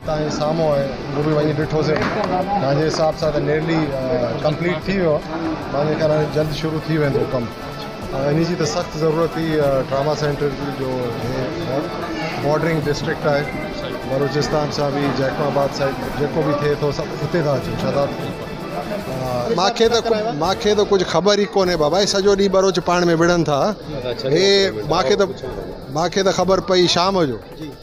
تان جي سامهون آهي اهو به وڃي ڏٺوسي مانجي حساب سان ته نيئرلي ڪمپليٽ ٿي ويو آهي مانجي خيال هاڻي جلد شروع ٿي ويندو ڪم انهي جي ته سخت ضرورت هئي ٽراما سينٽر جي جو بارڊرنگ ڊسٽرڪٽ آهي بلوچستان سان به جيڪب آباد سائيڊ جيڪو به ٿئي ٿو سڀ اتي ٿا اچن ڇا ٿا ماکي ته ماکي ته ڪجهه خبر ئي ڪونهي بابا هي سڄو ڏينهن بروچ پاڻ ۾ وڙهن ٿا هي ماکي ته ماکي ته خبر پئي شام جو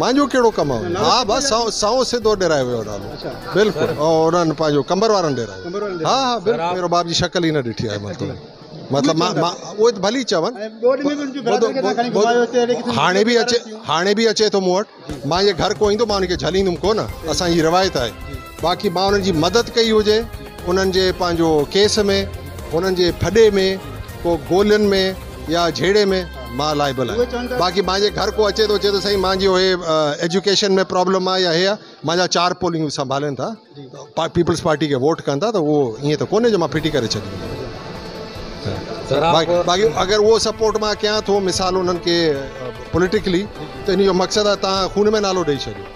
مانجو ڪهڙو ڪم آهي ها بس سائون سائون سيدو ڏيرائي ويو نالو بلڪل انهن پنهنجو قمبر وارن ڏيرائي ها ها بلڪل ميرو باب جي شڪل ئي نه ڏٺي آهي مطلب مطلب مان مان اهي ته ڀلي چون هاڻي به اچي هاڻي به اچي ٿو مون وٽ مانجي گهر ڪو ايندو مان ان کي جهليندم ڪونه اسان جي روايت آهي باقي مان انهن جي مدد ڪئي هجي انهن جي پنهنجو ڪيس ۾ انهن جي ڦڏي ۾ ڪو گولين ۾ يا جهيڙي ۾ مان لائبل آهيان باقي مانجي گهر ڪو اچي ٿو چي ٿو سائين مانجي اهي ايجوڪيشن ۾ پرابلم آهي يا هي آهي مانجا چار پولنگ سنڀالين ٿا پيپلز پارٽي کي ووٽ ڪن ٿا ته اهو ائين ته ڪونهي جو مان ڦٽي ڪري ڇڏيندو باقي اگر اهو سپورٽ مان ڪيان ٿو مثال انهن کي پوليٽيڪلي ته ان جو مقصد آهي تان خون ۾ نالو ڏئي ڇڏيو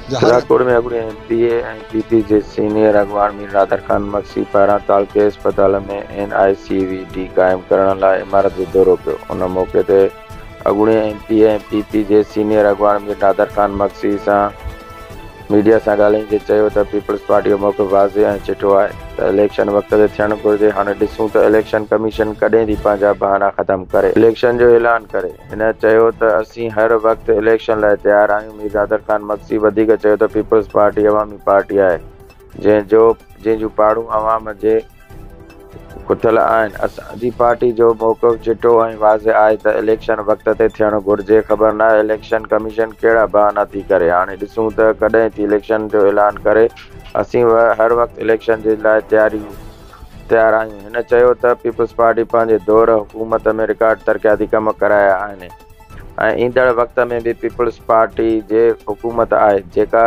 راڄڪوٽ ۾ اڳوڻي M P A ۽ P P جي سينيئر اڳواڻ مير نادر خان مگسي پاران تعلقي اسپتال ۾ N I C V D قائم ڪرڻ لاء عمارت جو دورو ڪيو ان موقعي تي اڳوڻي M P A ۽ P P جي سينيئر اڳواڻ مير نادر خان مگسي سان ميڊيا سان ڳالهائيندي چيو ته پيپلز پارٽي جو موقف واضح ۽ چٽو آهي ته اليڪشن وقت تي ٿيڻ گهرجي هاڻي ڏسون ته اليڪشن ڪميشن ڪڏهن ٿي پنهنجا بهانا ختم ڪري اليڪشن جو اعلان ڪري. هن چيو ته اسين هر وقت اليڪشن لاء تيار آهيون، مير نادر خان مگسي وڌيڪ چيو ته پيپلز پارٽي عوامي پارٽي آهي جنهن جو جنهن جون پاڙون عوام جي اٿل آهن، اسان جي پارٽي جو موقف چٽو ۽ واضح آهي ته اليڪشن وقت تي ٿيڻ گهرجي، خبر ناهي اليڪشن ڪميشن ڪهڙا بهانا ٿي ڪري، هاڻي ڏسون ته ڪڏهن ٿي اليڪشن جو اعلان ڪري، اسين هر وقت اليڪشن جي لاء تياريون. تيار آهيون. هن چيو ته پيپلز پارٽي پنهنجي دور حڪومت ۾ رڪارڊ ترقياتي ڪم ڪرايا آهن ۽ ايندڙ وقت ۾ به پيپلز پارٽي جي حڪومت آهي جيڪا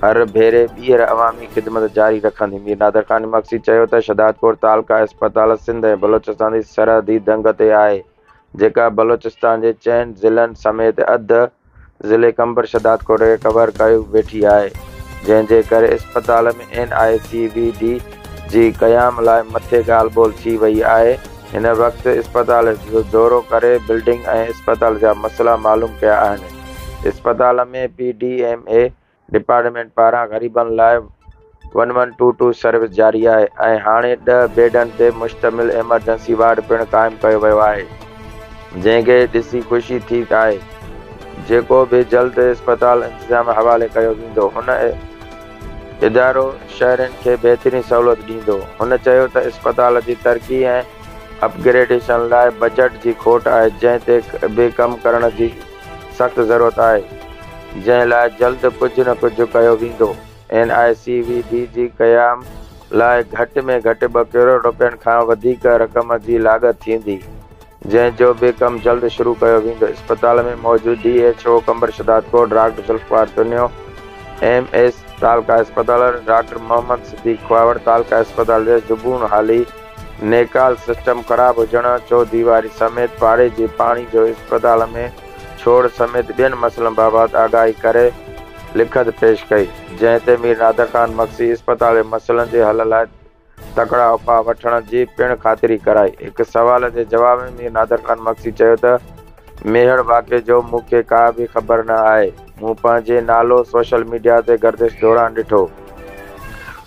هر ڀيري ٻيهر عوامي خدمت جاري رکندي. مير نادر خان مگسي چيو ته شهدادڪوٽ تعلقه اسپتال سنڌ ۽ بلوچستان جي سرحدي دنگ تي آهي، جيڪا بلوچستان جي چئن ضلعن سميت اڌ ضلعي قمبر شھداد ڪوٽ کي ڪور ڪيو ويٺي آھي جنھن جي ڪري اسپتال ۾ N I C V D جي قيام لاء مٿي ڳالھ ٻولھ ٿي وئي آھي ھن وقت اسپتال جو دورو ڪري بلڊنگ ۽ اسپتال جا مسئلا معلوم ڪيا آھن اسپتال ۾ P D M A department پاران غريبن لاء one one two two service جاري آهي ۽ هاڻي ڏهه بيڊن تي مشتمل ايمرجنسي وارڊ پڻ قائم ڪيو ويو آهي جنهن کي ڏسي خوشي ٿي آهي جيڪو به جلد اسپتال انتظاميه حوالي ڪيو ويندو هن ادارو شهرين کي بهترين سهولت ڏيندو هن چيو ته اسپتال جي ترقي ۽ اپ گريڊيشن لاء بجٽ جي کوٽ آهي جنهن تي به ڪم ڪرڻ جي سخت ضرورت آهي جنهن لاء جلد ڪجهه نه ڪجهه ڪيو ويندو، N I C V D جي قيام لاء گهٽ ۾ گهٽ ٻه ڪروڙ رپين کان وڌيڪ رقم جي لاڳت ٿيندي جنهن جو به ڪم جلد شروع ڪيو ويندو اسپتال ۾ موجود D H O Qambar Shahdad cover doctor Zulfiqar Channo M S تعلقه اسپتال ڊاڪٽر محمد صديق کهاوڙ تعلقه اسپتال جي زبون حالي نيڪال سسٽم خراب هجڻ، چوڌيواري سميت پاڙي جي پاڻي جو اسپتال ۾ ڇوڙ سميت ٻين مسئلن بابت آگاهي ڪري لکت پيش ڪئي، جنهن تي مير نادر خان مگسي اسپتال جي مسئلن جي حل لاء تڪڙا اپاء وٺڻ جي پڻ خاطري ڪرائي. هڪ سوال جي جواب ۾ مير نادر خان مگسي چيو ته، ميهڙ واقعي جو مون کي ڪا به خبر نه آهي. مون پنهنجي نالو سوشل ميڊيا تي گردش دوران ڏٺو،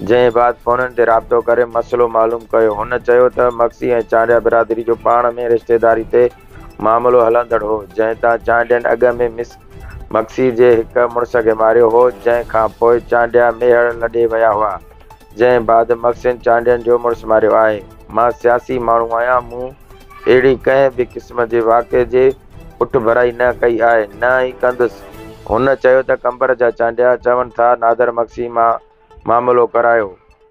جنهن بعد فونن تي رابطو ڪري مسئلو معلوم ڪيو. هن چيو ته مگسي ۽ چانڊيا برادري جو پاڻ ۾ رشتيداري تي معاملو هلندڙ هو، جنهن تان چانڊين اڳ ۾ مس مگسي جي هڪ مڙس کي ماريو هو، جنهن کانپوء چانڊيا ميهڙ لڏي ويا هئا. جنهن بعد محسن چانڊين جو مڙس ماريو آهي. مان سياسي ماڻهو آهيان، مون اهڙي ڪنهن به قسم جي واقعي جي پٺڀرائي نه ڪئي آهي، نه ئي ڪندس. هن چيو ته قمبر جا چانڊيا چون ٿا نادر مگسي مان معاملو ڪرايو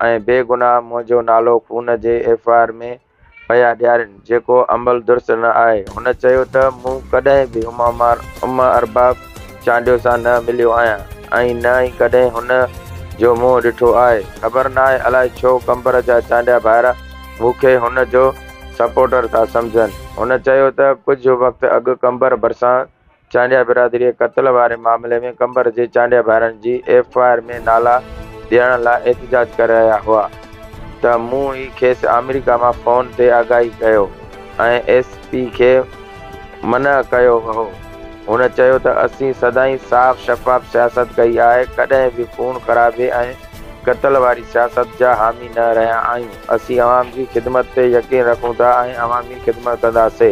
۽ بي گناهه منهنجو نالو خون جي ايف آء آر ۾ پيا ڏيارين، جيڪو عمل درست نه آهي. هن چيو ته مون ڪڏهن به اما ارباب چانڊيو سان نه مليو آهيان ۽ نه ئي ڪڏهن هن جو منهن ڏٺو آهي. خبر ناهي الاء ڇو قمبر جا چانڊيا ڀائرا مون کي هن جو سپورٽر ٿا سمجهن. هن چيو ته ڪجهه وقت اڳ قمبر ڀرسان چانڊيا برادري قتل واري معاملي ۾ قمبر جي چانڊيا ڀائرن جي ايف آء آر ۾ نالا ڏيڻ لاء احتجاج ڪري رهيا هئا ته مون ئي کيس آمريڪا مان فون تي آگاهي ڪيو ۽ ايس پي کي منع ڪيو وهو هن چيو ته اسين سدائين صاف شفاف سياست ڪئي آهي ڪڏهن به خون خرابي ۽ قتل واري سياست جا حامي نه رهيا آهيون اسين عوام جي خدمت تي يقين رکون ٿا ۽ عوامي خدمت ڪنداسي.